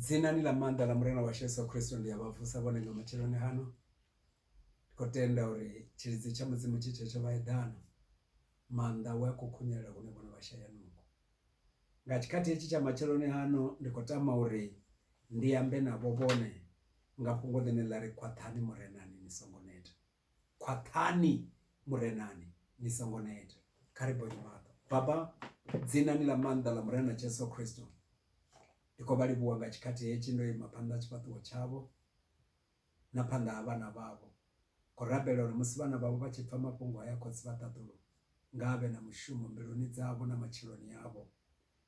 Dzinani ḽa maanḓa ḽa Murena washu Yesu Kristo ndi a vha vusa vhone nga matsheloni hano ndi khou tenda uri tshilidzi tsha mudzimu tshi tshetsho vha eḓana maanḓa we a khou khunyelela hune vhone vha shaya nungo nga tshikhathi hetshi tsha matsheloni hano ndi khou tama uri ndi ambe navho vhone nga fhungo ḽine ḽa ri khwaṱhani murenani ni songo neta Khwaṱhani Murenani, ni songo neta. Kha ri bonye maṱo. Baba, dzinani ḽa maanḓa ḽa Murena Jesu Kristo, ndi khou vha livhuwa nga tshikhathi hetshi ndo ima phanḓa ha tshifhaṱuwo tshavho na phanḓa ha vhana vhavho. Khou rabela uri musi vhana vhavho vha tshi pfa mafhungo haya, Khotsi vha ṱaḓulu nga a vhe na mushumo mbiluni dzavho na matshiloni avho.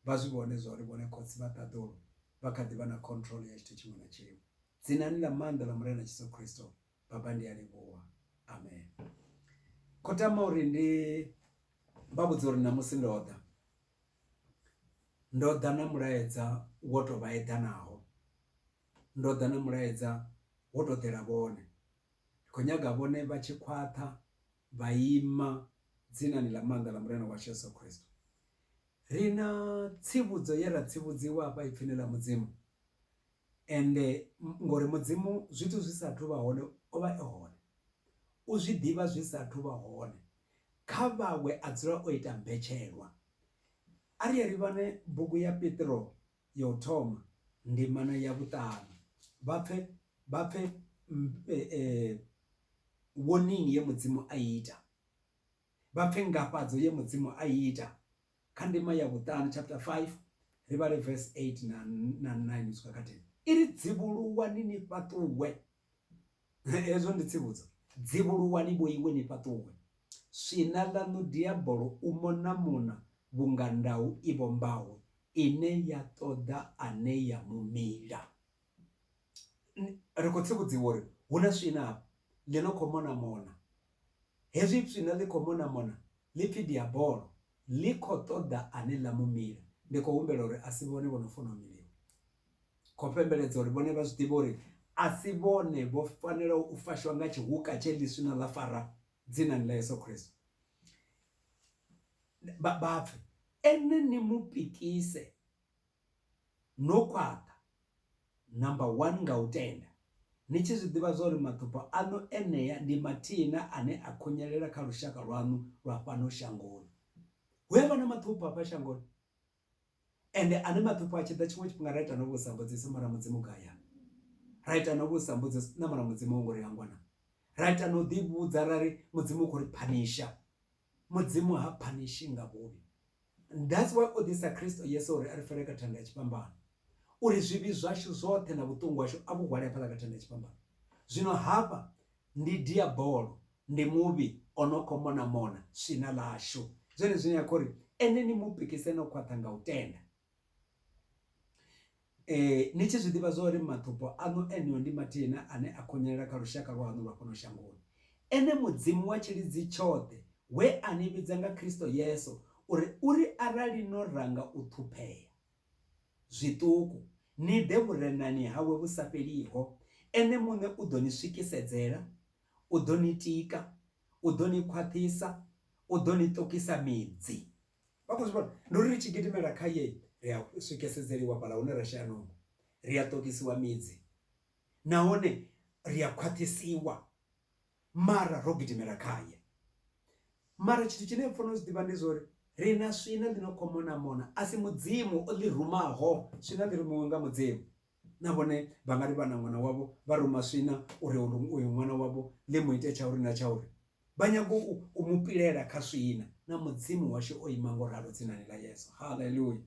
Vha zwi vhone zwa uri vhone Khotsi vha ṱaḓulu vha kha ḓi vha na control ya tshithu tshiṅwe na tshiṅwe. Dzinani ḽa maanḓa ḽa Murena Jesu Kristo, Baba ndi a livhuwa amen. Kho tama uri ndi vha vhudza uri ṋamusi ndo ḓa ndo ḓa na mulaedza wo to vha eḓanaho ndo ḓa na mulaedza wo to ḓela vhone ndi khou nyaga vhone vha tshi khwaṱha vha ima dzinani ḽa maanḓa ḽa murena washu yesu khristo ri na tsivhudzo ye ra tsivhudziwa hafha ipfini ḽa mudzimu Ende, ngori Mudzimu zwithu zwi sa athu vha hone o vha e hone. U zwi ḓivha zwi sa athu vha hone. Kha vhawe a dzula o ita mbetshelwa. A ri ye ri vhone bugu ya Petro ya u thoma ndimana ya vhuṱanu. Vha pfe, vha pfe warning ye Mudzimu a i ita. Vha pfe ngafhadzo ye Mudzimu a i ita. kha ndima ya vhuṱanu chapter 5 ri vhale verse 8 na, na 9 u swika kha 10 i ri dzivhuluwani ni fhaṱuwe hezwo ndi tsivhudzo dzivhuluwani vho iwe ni fhaṱuwe swina ḽaṋu diabolo u mona mona vhunga ndau i vhombaho ine ya ṱoḓa ane ya mumila ri khou tsivhudziwa uri hu na swina afha ḽi no khou mona mona. Hezwi swina ḽi khou mona mona ḽi pfi Diabolo, ḽi khou ṱoḓa ane ḽa mu mila. Ndi khou humbela uri a si vhone vho no funa u miliwa. Khou fhembeledza uri vhone vha zwi ḓivhe uri a si vhone vho fanelaho u fashwa nga tshihuka tshe ḽi swina ḽa fara dzinani ḽa Yesu Kristo. Vha pfe, Ene ni mu pikise no khwaṱha, number one, nga u tenda, ni tshi zwi ḓivha zwa uri maṱhupho aṋu enea ndi mathina ane a khunyelela kha lushaka lwaṋu lwa fhano shangoni. Hu a vha na maṱhupho hafha shangoni, ende ane maṱhupho a tshi ḓa tshiṅwe tshifhinga ra ita no vhusa mbudziso mara Mudzimu gai a ra ita no vhusa mbudziso na mara Mudzimu wo ngo ri hangwa na ra ita no ḓivhudza ra ri Mudzimu u khou ri phanisha Mudzimu ha phanishi nga vhuvhi. That's why o ḓisa Kristo Yesu uri a ri fele kha thanda ya tshifhambano, uri zwivhi zwashu zwoṱhe na vhuṱungu hashu a vhu hwale hafhaḽa kha thanda ya tshifhambano. Zwino hafha ndi Diabolo, ndi muvhi o no khou mona-mona swina ḽashu. Ndi zwone zwine a khou ri, Ene ni mu pikise no khwaṱha nga u tenda. Ni tshi zwi ḓivha zwa uri matombo aṋu eneo ndi mathihi na ane a khunyelela kha lushaka lwaṋu lwa fhano shangoni, ene Mudzimu wa tshilidzi tshoṱhe we a ni vhidza nga Kristo Yesu uri uri arali no ranga u ṱhuphea zwiṱuku ni ḓe vhurenani hawe vhu sa fheliho, ene muṋe u ḓo ni swikisedzela, u ḓo ni tika, u ḓo ni khwaṱhisa, u ḓo ni ṱukisa midzi. vha khou zwi vhona ndi uri ri tshi gidimela khaye ri a swikesedzeliwa fhala hune ra shaya nungo ri a ṱokisiwa midzi nahone ri a khwaṱhisiwa mara ro gidimela khaye mara tshithu tshine pfana u zwi ḓivha ndi zwori ri na swina ḽi no khou mona mona a si mudzimu o ḽi rumaho swina ḽi rumiwe nga mudzimu na vhone vha nga ri vha na ṅwana wavho vha ruma swina uri uyu ṅwana wavho ḽi mu ite tsha uri na tsha uri Vha nyaga u mu pilela kha swina. Na Mudzimu washu o ima nga u ralo dzinani ḽa Yesu. Haleluya!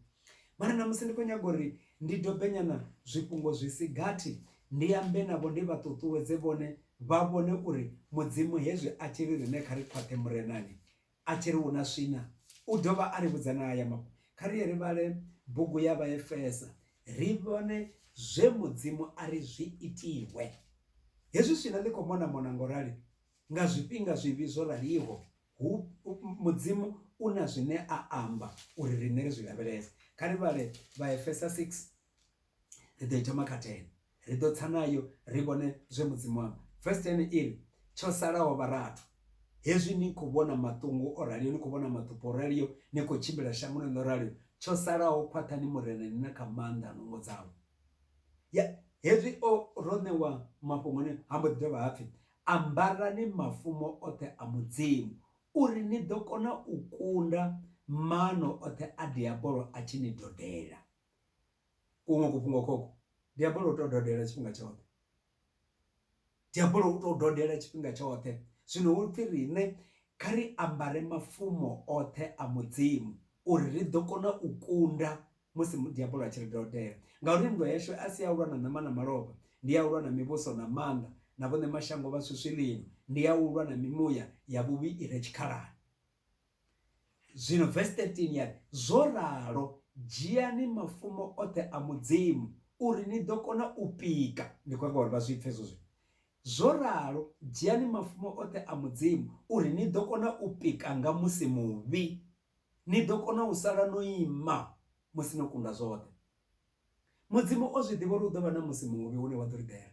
Mara ṋamusi ndi khou nyaga uri ndi dobe nyana zwifhungo zwi si gathi, ndi ambe navho, ndi vha ṱuṱuwedze vhone vha vhone uri Mudzimu hezwi a tshi ri riṋe kha ri khwaṱhe Murenani, a tshi ri hu na swina, u dovha a ri vhudza na haya mafhungo. Kha ri ye ri vhale bugu ya Vhaefesa ri vhone zwe Mudzimu a ri zwi itiwe. Hezwi swina ḽi khou mona-mona nga u rali, Nga zwifhinga zwivhi zwo raliho, hu, Mudzimu u na zwine a amba uri riṋe ri zwi lavhelese. Kha ri vhale Vhaefesa 6, ri ḓo i thoma kha 10. Ri ḓo tsa nayo ri vhone zwe Mudzimu a amba. Vesi 10 i ri, Tsho salaho vharathu, hezwi ni khou vhona maṱungu o raliho, ni khou vhona maḓupho o raliho, ni khou tshimbila shangoni ḽo raliho, tsho salaho khwaṱhani Murena ni na kha maanḓa a nungo dzawe. Ya, hezwi o, ro ṋewa mafhungo aneo, ha mbo ḓi dovha ha pfi, Ambarani mafumo oṱhe a Mudzimu, uri ni ḓo kona u kunda maano oṱhe a Diabolo a tshi ni dodela. Kuṅwe kufhungo khokhu, Diabolo u tou dodela tshifhinga tshoṱhe. Diabolo u tou dodela tshifhinga tshoṱhe. Zwino ho pfi riṋe kha ri ambare mafumo oṱhe a Mudzimu uri ri ḓo kona u kunda musi Mudiabolo a tshi ri doldela. Ngauri nndwa yashu a si ya u lwa na ṋama na malofha, ndi ya u lwa na mivhuso na maanḓa na vhoṋe mashango vha swiswi ḽino, ndi ya u lwa na mimuya ya vhuvhi i re tshikhalani. Zwino vesi 13 ya ri, Zwo ralo, dzhiani mafumo oṱhe a Mudzimu, uri ni ḓo kona u pika. Ndi khou nyaga uri vha zwi pfe hezwo zwithu. Zwo ralo, dzhiani mafumo oṱhe a Mudzimu, uri ni ḓo kona u pika nga musi muvhi. Ni ḓo kona u sala no ima musi no kunda zwoṱhe. Mudzimu o zwi ḓivha uri hu ḓo vha na musi muvhi une wa ḓo ri ḓela.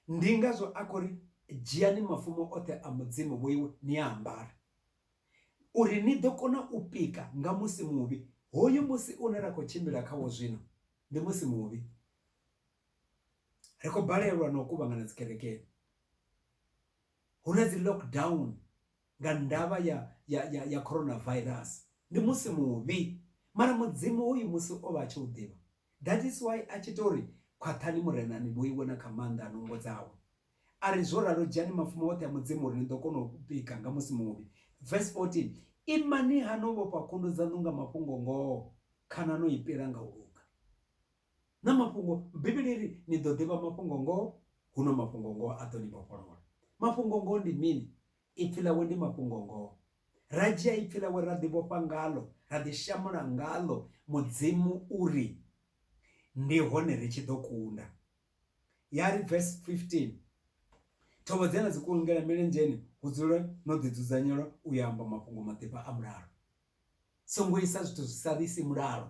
Ndi ngazwo a khou ri, Dzhiani mafumo oṱhe a Mudzimu vhoiwe ni a ambare, uri ni ḓo kona u pika nga musi muvhi. Hoyu musi une ra khou tshimbila khawo zwino ndi musi muvhi. Ri khou balelwa na u kuvhangana dzikerekeni, hu na dzi lockdown nga ndavha ya, ya, ya, ya coronavirus ndi musi muvhi. Mara Mudzimu hoyu musi o vha a tshi u ḓivha. That is why a tshi tou ri, Khwaṱhani Murena ni vhoiwe na kha maanḓa a nungo dzawe. A ri, Zwo ralo dzhiani mafhuma oṱhe a Mudzimu uri ni ḓo kona u pika nga musi muvhi. Verse 14, Imani-ha no vhofha khundu dzaṋu nga mafhungo-ngoho, khana no i pila nga u luga. na mafhungo bivhili ri ni ḓo ḓivha mafhungo ngoho huno mafhungo ngoho a ḓo ni vhofholola mafhungo ngoho ndi mini ipfi ḽawe ndi mafhungo ngoho ra dzhia ipfi ḽawe ra ḓi vhofha ngalo ra ḓi shamula ngalo mudzimu uri ndi hone ri tshi ḓo kunda ya ri verse 15 thovho dze na dzi kulungela milenzheni hu dzule no ḓi dzudzanyelwa u ya amba mafhungo maḓifha a mulalo songo isa zwithu zwi sa ḓisi mulalo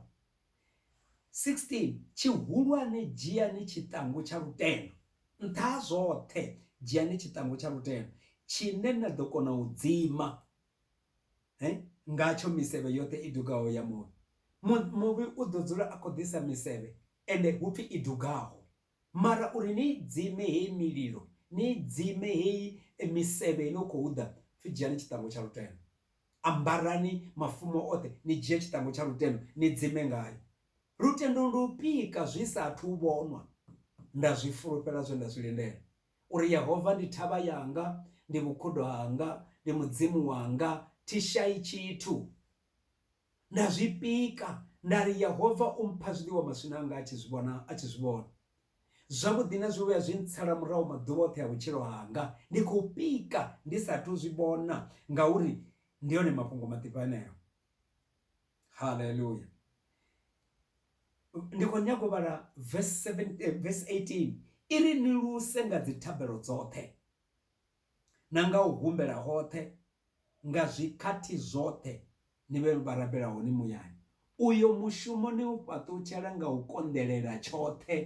16 tshihulwane dzhiani tshiṱangu tsha lutendo nṱha ha zwoṱhe dzhiani tshiṱangu tsha lutendo tshine na ḓo kona u dzima he ngatsho misevhe yoṱhe i dugaho ya muvhi muvhi u ḓo dzula a khou ḓisa misevhe ende hupfi i dugaho Mara uri ni i dzime heyi mililo, ni i dzime heyi misevhe i no khou ḓa, pfi dzhiani tshiṱangu tsha lutendo. Ambarani mafumo oṱhe, ni dzhie tshiṱangu tsha lutendo, ni dzime ngayo. Lutendo ndi u pika zwi sa athu u vhonwa. Nda zwi fulufhela zwe nda zwi lindela, uri Yehova ndi thavha yanga, ndi vhukhudo hanga, ndi Mudzimu wanga, thi shai tshithu. Nda zwi pika, nda ri, Yehova u mpha zwiḽiwa maswina anga a tshi zwi vhona, a tshi zwi vhona. Zwavhuḓi na zwivhuya zwi ntsala murahu maḓuvha oṱhe a vhutshilo hanga. Ndi khou pika ndi sa athu u zwi vhona, ngauri ndi one mafhungo maḓifha eneo. Haleluya! Ndi khou nyaga u vhala vesi 17, vesi 18, i ri, Ni luse nga dzithabelo dzoṱhe. na nga u humbela hoṱhe nga zwikhathi zwoṱhe, ni vhe vha rabela hone muyani. Uyo mushumo ni u fhaṱutshela nga u konḓelela tshoṱhe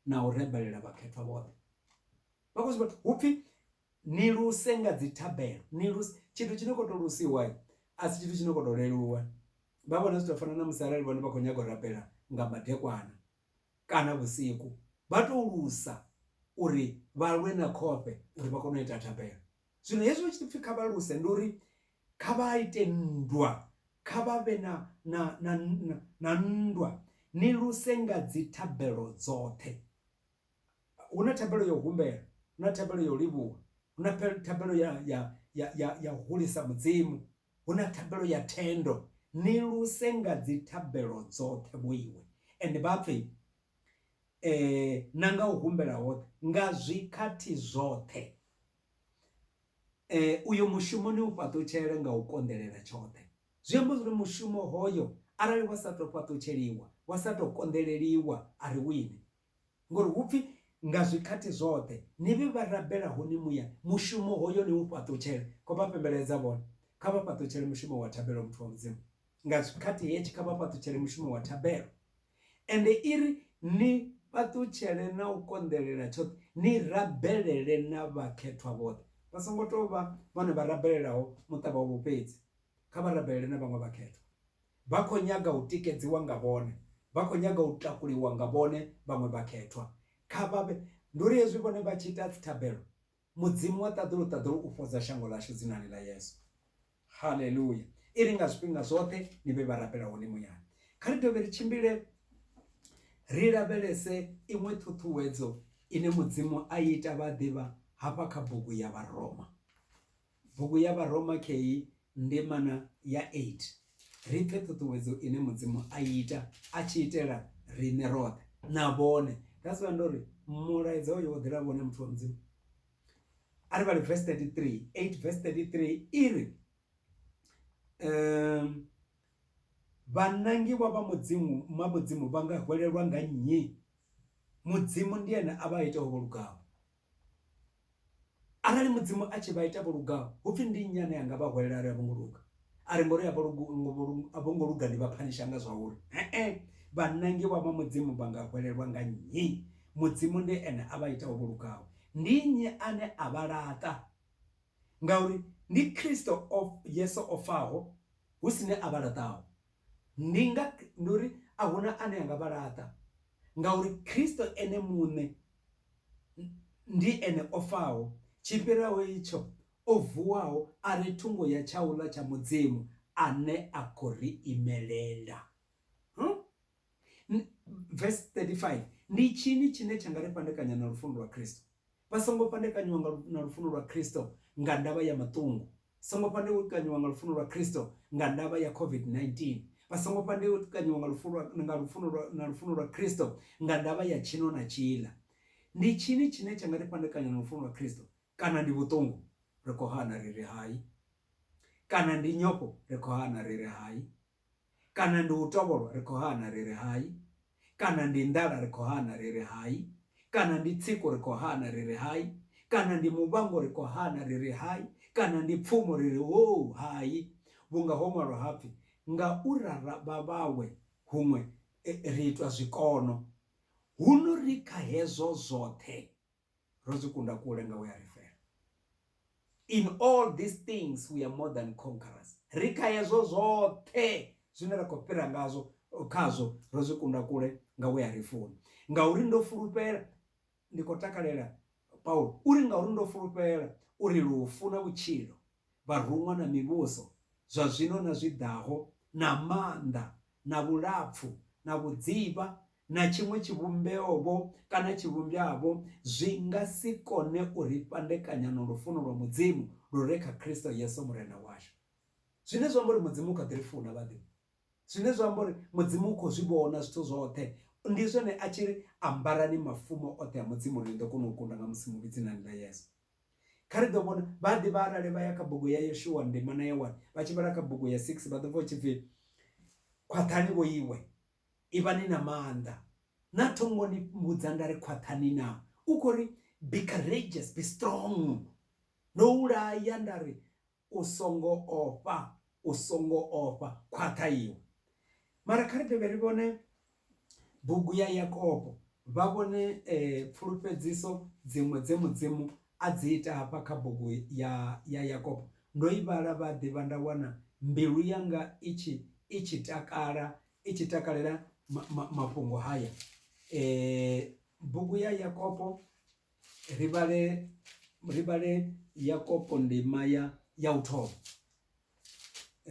na u rebelela vhakhethwa vhoṱhe. Vhakosi vhathu, hu pfi ni luse nga dzithabelo, ni luse. Tshithu tshi no khou tou lusiwa a si tshithu tshi no khou tou leluwa. Vha vhona zwi tshi tou fana na musi arali vhone vha khou nyaga u rabela nga madekwana, kana vhusiku vha tou lusa uri vha lwe na khofhe uri vha kone u ita thabelo. Zwino hezwi hu tshi pfi kha vha luse ndi uri kha vha ite nndwa, kha vha vhe na, na, na, na nndwa, ni luse nga dzithabelo dzoṱhe. Hu na thabelo ya u humbela, hu na thabelo ya u livhuwa, hu na thabelo ya, ya, ya, ya, ya hulisa Mudzimu, Hu na thabelo ya thendo, ni luse nga dzithabelo dzoṱhe vho Iwe. Ende vha pfe, e, na nga u humbela hoṱhe, nga zwikhathi zwoṱhe. E, uyo mushumo ni u fhaṱutshele nga u konḓelela tshoṱhe. Zwi amba zwa uri mushumo hoyo, arali wa sa tou fhaṱutsheliwa, wa sa tou konḓeleliwa, a ri wine. Ngori hu pfi, Nga zwikhathi zwoṱhe ni vhe vha rabelaho ni muya, mushumo hoyo ni u fhaṱutshele. Kho vha fhembeledza vhone, Kha vha fhaṱutshele mushumo wa thabelo, muthu wa Mudzimu. Nga zwikhathi hetshi, kha vha fhaṱutshele mushumo wa thabelo. Ende i ri, Ni fhaṱutshele na u konḓelela tshoṱhe, ni rabelele na vhakhethwa vhoṱhe. Vha songo tou vha vhone vha rabelelaho muṱa wavho fhedzi, kha vha rabelele na vhaṅwe vhakhethwa. Vha khou nyaga u tikedziwa nga vhone. Vha khou nyaga u takuliwa nga vhone vhaṅwe vhakhethwa. Kha vha vhe. Ndi uri hezwi vhone vha tshi ita dzithabelo, Mudzimu wa ṱaḓulu-ṱaḓulu u fhodza shango ḽashu Dzinani ḽa Yesu. Haleluya! I ri nga zwifhinga zwoṱhe ni vhe vharapela hone muyani. Kha ri dovhe ri tshimbile ri lavhelese iṅwe ṱhuṱhuwedzo ine Mudzimu a i ita vha ḓivha hafha kha bugu ya Vharoma. Bugu ya Vharoma kheyi ndimana ya 8, ri pfe ṱhuṱhuwedzo ine Mudzimu a i ita a tshi itela riṋe roṱhe. Na vhone. That's why ndo ri, mulaedza uyu wo ḓela vhone muthu wa Mudzimu. A ri vhale vesi 33, 8 vesi 33 i ri, um Vhanangiwa vha Mudzimu ma Mudzimu vha nga hwelelwa nga nnyi? Mudzimu ndi Ene a vha ita ho vho lugaho. Arali Mudzimu a tshi vha ita vho lugaho, hu pfi ndi nnyi ane a nga vha hwelela a ri a vho ngo luga? A ri ngauri a vho a vho ngo luga ni vha phanisha nga zwa uri? He-e, vhanangiwa vha Mudzimu vha nga hwelelwa nga nnyi? Mudzimu ndi Ene a vha itaho vho lugaho. Ndi nnyi ane a vha laṱa? Ngauri ndi Kristo Yesu o faho, hu si ne a vha laṱaho. Ndi nga, ndi uri a hu na ane a nga vha laṱa, ngauri Kristo Ene muṋe ndi Ene o faho, tshi fhiraho itsho, o vuwaho a re thungo ya tshauḽa tsha Mudzimu, ane a khou ri imelela. Huh? Verse 35, Ndi tshini tshine tsha nga ri fhandekanya na lufuno lwa Kristo? Vha songo fhandekanyiwa nga lu, na lufuno lwa Kristo nga ndavha ya maṱungu. Songo fhandekanyiwa nga lufuno lwa Kristo nga ndavha ya COVID-19. Vha songo fhandekanyiwa nga lufu lwa, nga lufuno lwa, na lufuno lwa Kristo nga ndavha ya tshino na tshiḽa. Ndi tshini tshine tsha nga ri fhandekanya na lufuno lwa Kristo? Kana ndi vhuṱungu? Ri khou hana ri ri hai. Kana ndi nyofho? Ri khou hana ri ri hai. Kana ndi u tovholwa? Ri khou hana, ri ri hai. Kana ndi nḓala? Ri khou hana, ri ri hai. Kana ndi tsiku? Ri khou hana, ri ri hai. Kana ndi muvhango? Ri khou hana, ri ri hai. Kana ndi pfumo? Ri ri hoo, hai. Vhunga ho ṅwalwa ha pfi, Nga u rara vha vhawe huṅwe ri itwa zwikono. Huno ri kha hezwo zwoṱhe. Ro zwi kunda kule nga we a ri fela. In all these things we are more than conquerors. Ri kha hezwo zwoṱhe zwine ra khou fhira ngazwo khazwo ro zwi kunda kule nga we a ri funa. Ngauri ndo fulufhela ndi khou takalela Paulo uri ngauri ndo fulufhela uri lufu na vhutshilo, vharuṅwa na mivhuso, zwa zwino na zwi ḓaho, na maanḓa na vhulapfu na vhudzivha na tshiṅwe tshivhumbeo-vho kana tshivhumbwa-vho zwi nga si kone u ri fhandekanya na lufuno lwa Mudzimu lu re kha Kristo Yesu Murena washu. Zwine zwa amba uri Mudzimu u kha ḓi ri funa, vhaḓivhi. Zwine zwa amba uri Mudzimu u khou zwi vhona zwithu zwoṱhe, ndi zwone a tshi ri, Ambarani mafumo oṱhe a Mudzimu uri ni ḓo kona u kunda nga musi mu vhi dzinani ḽa Yesu. Kha ri ḓo vhona, vhaḓivhi arali vha ya kha bugu ya Yoshua ndima na ya 1, vha tshi vhala kha bugu ya 6, vha ḓo pfa hu tshi pfi, Khwaṱhani vho iwe, Ivhani na maanḓa. Naa tho ngo ni vhudza nda ri khwaṱhani na? U khou ri, Be courageous, be strong. Ndo u laya nda ri, U songo ofha, u songo ofha, khwaṱha iwe. Mara kha ri dovhe ri vhone bugu ya Yakobo, vha vhone pfulufhedziso dziṅwe dze Mudzimu A dzi ita hafha kha bugu ya, ya Yakobo. Ndo i vhala, vha ḓivha, nda wana mbilu yanga i tshi, i tshi takala, i tshi takalela ma, ma, mafhungo haya. E, bugu ya Yakobo, ri vhale, ri vhale Yakobo ndima ya, ya u thoma.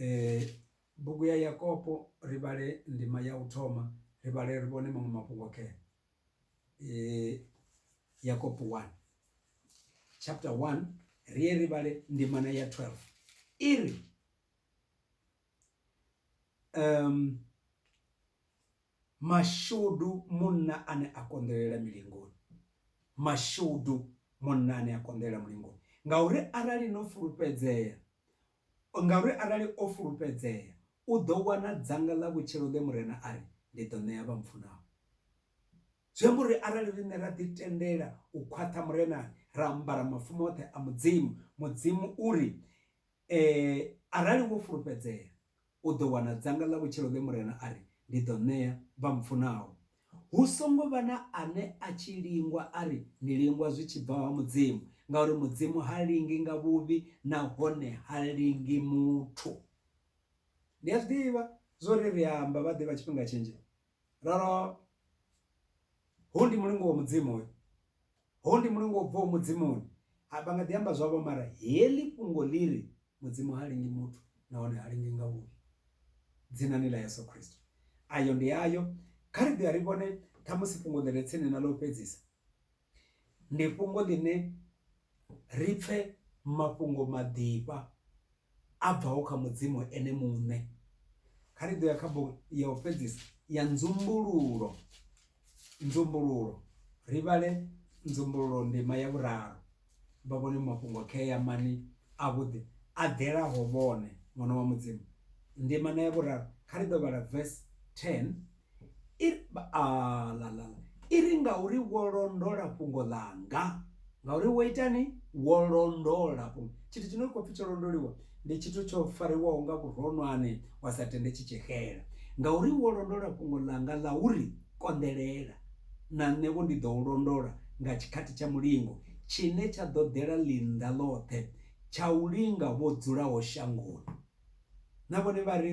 E, bugu ya Yakobo, ri vhale ndima ya u thoma, ri vhale ri vhone maṅwe mafhungo khayo. eh, yakobo 1 chapter 1 ri ye ri vhale ndimana ya 12 i ri um mashudu munna ane a konḓelela milingoni mashudu munna ane a konḓelela mulingoni ngauri arali no fulufhedzea Ngauri arali o fulufhedzea, u ḓo wana dzanga ḽa vhutshilo ḽe Murena a ri, Ndi ḓo ṋea vha mpfunaho. Zwi amba uri arali riṋe ra ḓitendela u khwaṱha Murenani, ra ambara mafumo oṱhe a Mudzimu, Mudzimu u ri, Ee, arali wo fulufhedzea, u ḓo wana dzanga ḽa vhutshilo ḽe Murena a ri ndi ḓo ṋea vha mpfunaho. Hu songo vha na ane a tshi lingwa a ri ni lingwa zwi tshi bva ha Mudzimu, ngauri Mudzimu ha lingi nga vhuvhi nahone ha lingi muthu. Ni a zwi ḓivha zwo ri ri amba vhaḓivha tshifhinga tshinzhi Ralo, hoyu ndi mulingo wa Mudzimu hoyu. Hoyu ndi mulingo u bvaho Mudzimuni. A vha nga ḓi amba zwavho mara heḽi fhungo ḽi ri Mudzimu ha lingi muthu nahone ha lingi nga vhuvhi. Dzinani ḽa Yesu Kristo. Ayo ndi ayo. Kha ri ḓe ri vhone ṱhamusi fhungo ḽi re tsini na ḽa u fhedzisa. Ndi fhungo ḽine ri pfe mafhungo maḓifha a bvaho kha Mudzimu ene muṋe. Kha ri ḓo ya kha bugu ya u fhedzisa ya Nzumbululo, Nzumbululo, ri vhale Nzumbululo ndima ya vhuraru, vha vhone mafhungo khea mani avhuḓi a ḓelaho vhone, Ṅwana wa Mudzimu. Ndima na ya vhuraru, kha ri ḓo vhala vesi 10 I ri, Aalalala! I ri, Ngauri wo londola fhungo ḽanga. Ngauri wo itani? Wo londola fhungo. Tshithu tshi no khou pfi tsho londoliwa, ndi tshithu tsho fariwaho nga vhuronwane, wa sa tende tshi tshi xela. Ngauri wo londola fhungo ḽanga ḽa u ri konḓelela, na nṋe-vho ndi ḓo u londola nga tshikhathi tsha mulingo, tshine tsha ḓo ḓela ḽinnḓa ḽoṱhe, tsha u linga vho dzulaho shangoni. Na vhone vha ri,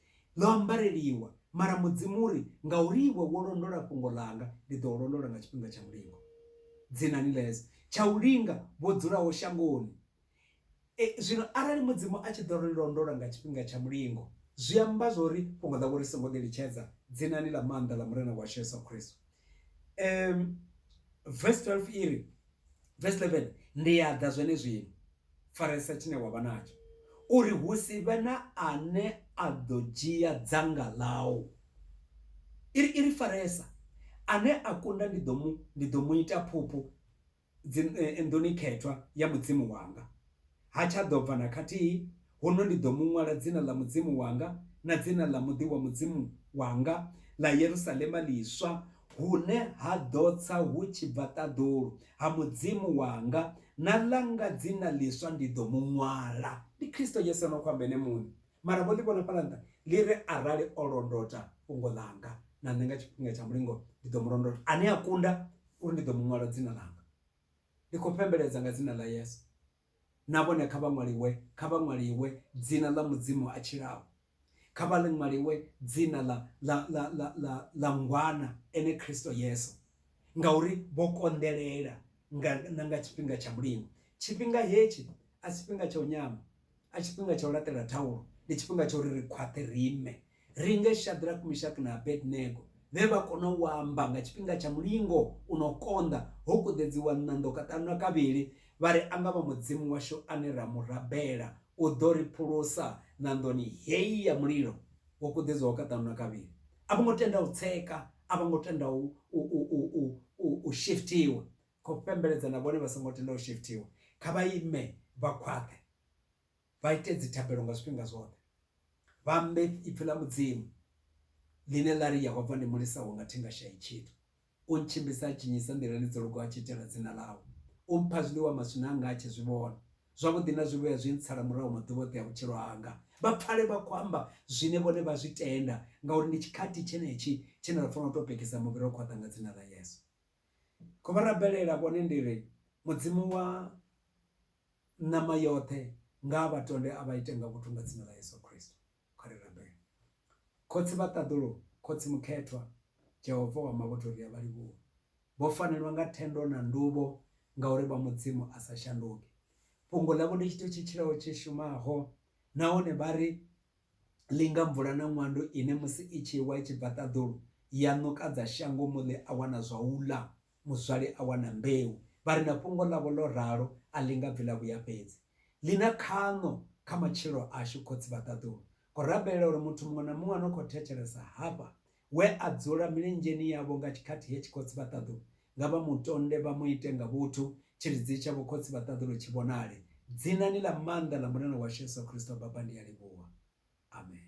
Ḽo ambareliwa, mara Mudzimu uri, Ngauri iwe wo londola fhungo ḽanga, ndi ḓo u londola nga tshifhinga tsha mulingo. Dzinani ḽa Yesu, tsha u linga vho dzulaho shangoni. E, zwino arali Mudzimu a tshi ḓo ri londola nga tshifhinga tsha mulingo, zwi amba zwo ri fhungo ḽawe ri songo ḽi litshedza, dzinani ḽa maanḓa ḽa Murena washu Yesu Kristo. Um, verse 12 iri, verse 11, Ndi a ḓa zwenezwino. faresa tshine wa vha natsho uri hu si vhe na ane a ḓo dzhia dzanga ḽau iri iri faresa ane a kunda ndi ḓo mu ndi ḓo mu ita phuphu eh, nḓuni khethwa ya mudzimu wanga ha tsha ḓo bva na khathihi Huno ndi ḓo mu ṅwala dzina ḽa Mudzimu wanga na dzina ḽa muḓi wa Mudzimu wanga, ḽa Yerusalema ḽiswa, hune ha ḓo tsa hu tshi bva ṱaḓulu, ha Mudzimu wanga, na ḽanga dzina ḽiswa ndi ḓo mu ṅwala. Ndi Kristo Yesu a no khou amba ene muṋe. Mara vho ḽi vhona fhaḽa nṱha, ḽi ri, Arali o londota fhungo ḽanga na nṋe nga tshifhinga tsha mulingo, ndi ḓo mu londota. Ane a kunda uri ndi ḓo mu ṅwala dzina ḽanga. Ndi khou fhembeledza nga dzina ḽa Yesu, Na vhone kha vha ṅwaliwe, kha vha ṅwaliwe dzina ḽa Mudzimu a tshilaho, kha vha ḽi ṅwaliwe dzina ḽa, ḽa, ḽa, ḽa, ḽa, ḽa Ngwana, ene Kristo Yesu, ngauri vho konḓelela nga, na nga tshifhinga tsha mulimo. Tshifhinga hetshi a si tshifhinga tsha u nyama, a si tshifhinga tsha u laṱela thaulo, ndi tshifhinga tsha uri ri khwaṱhe ri ime, Ri nge Shadrack, Mishak na Abednego vhe vha kona u amba nga tshifhinga tsha mulingo u no konḓa, ho kuḓedziwa ṋando kaṱanu na kavhili, vha ri, A nga vha Mudzimu washu ane ra mu rabela, u ḓo ri phulusa ṋandoni hei ya mulilo wo kuḓedzwaho kaṱanu na kavhili. A vho ngo tenda u tsheka, a vha ngo tenda u, u, u, u, u, u, u shiftiwa. Khou fhembeledza na vhone vha songo tenda u shiftiwa. Kha vha ime vha khwaṱhe. vha ite dzithabelo nga zwifhinga zwoṱhe, vha ambe ipfi ḽa Mudzimu, ḽine ḽa ri, Yehova ndi mulisa wanga, thi nga shai tshithu. U ntshimbidza a tshinyisa nḓilani dzo lugaho a tshi itela dzina ḽawe. U mpha zwiḽiwa maswina anga a tshi zwi vhona. Zwavhuḓi na zwivhuya zwi ntsala murahu maḓuvha oṱhe a vhutshilo hanga. Vha pfale vha khou amba zwine vhone vha zwi tenda, ngauri ndi tshikhathi tshenetshi tshine ra fanela u tou pekisa muvhi ro khwaṱha nga dzina ḽa Yesu. Khou vha rabelela vhone ndi ri, Mudzimu wa Ṋama yoṱhe nga vha tonde a vha ite nga vhuthu nga dzina ḽa Yesu Kristo. Kha ri rabele. Khotsi vha ṱaḓulu, Khotsi Mukhethwa, Jehova wa mavhuthu ri a vha livhuwa. Vho fanelwa nga thendo na nduvho ngauri vha Mudzimu a sa shanduki. Fhungo ḽavho ndi tshithu tshi tshilaho tshi shumaho nahone vha ri linga mvula na ṅwandu ine musi i tshi wa i tshi bva ṱaḓulu ya ṋukadza shango muḽi a wana zwa u ḽa. Muzwale a wana mbeu. Vha ri na fhungo ḽavho ḽo ralo a ḽi nga bvi ḽa vhuya fhedzi. Ḽi na khaṋo kha matshilo ashu, Khotsi vha ṱaḓulu. Khou rabelela uri muthu muṅwe na muṅwe a no khou thetshelesa hafha, we a dzula milenzheni yavho nga tshikhathi hetshi, Khotsi vha ṱaḓulu, nga vha mu tonde, vha mu ite nga vhuthu, tshilidzi tshavho, Khotsi vha ṱaḓulu, tshi vhonale. Dzinani ḽa maanḓa ḽa Murena washu Yesu Kristo, Baba, ndi a livhuwa. Amen.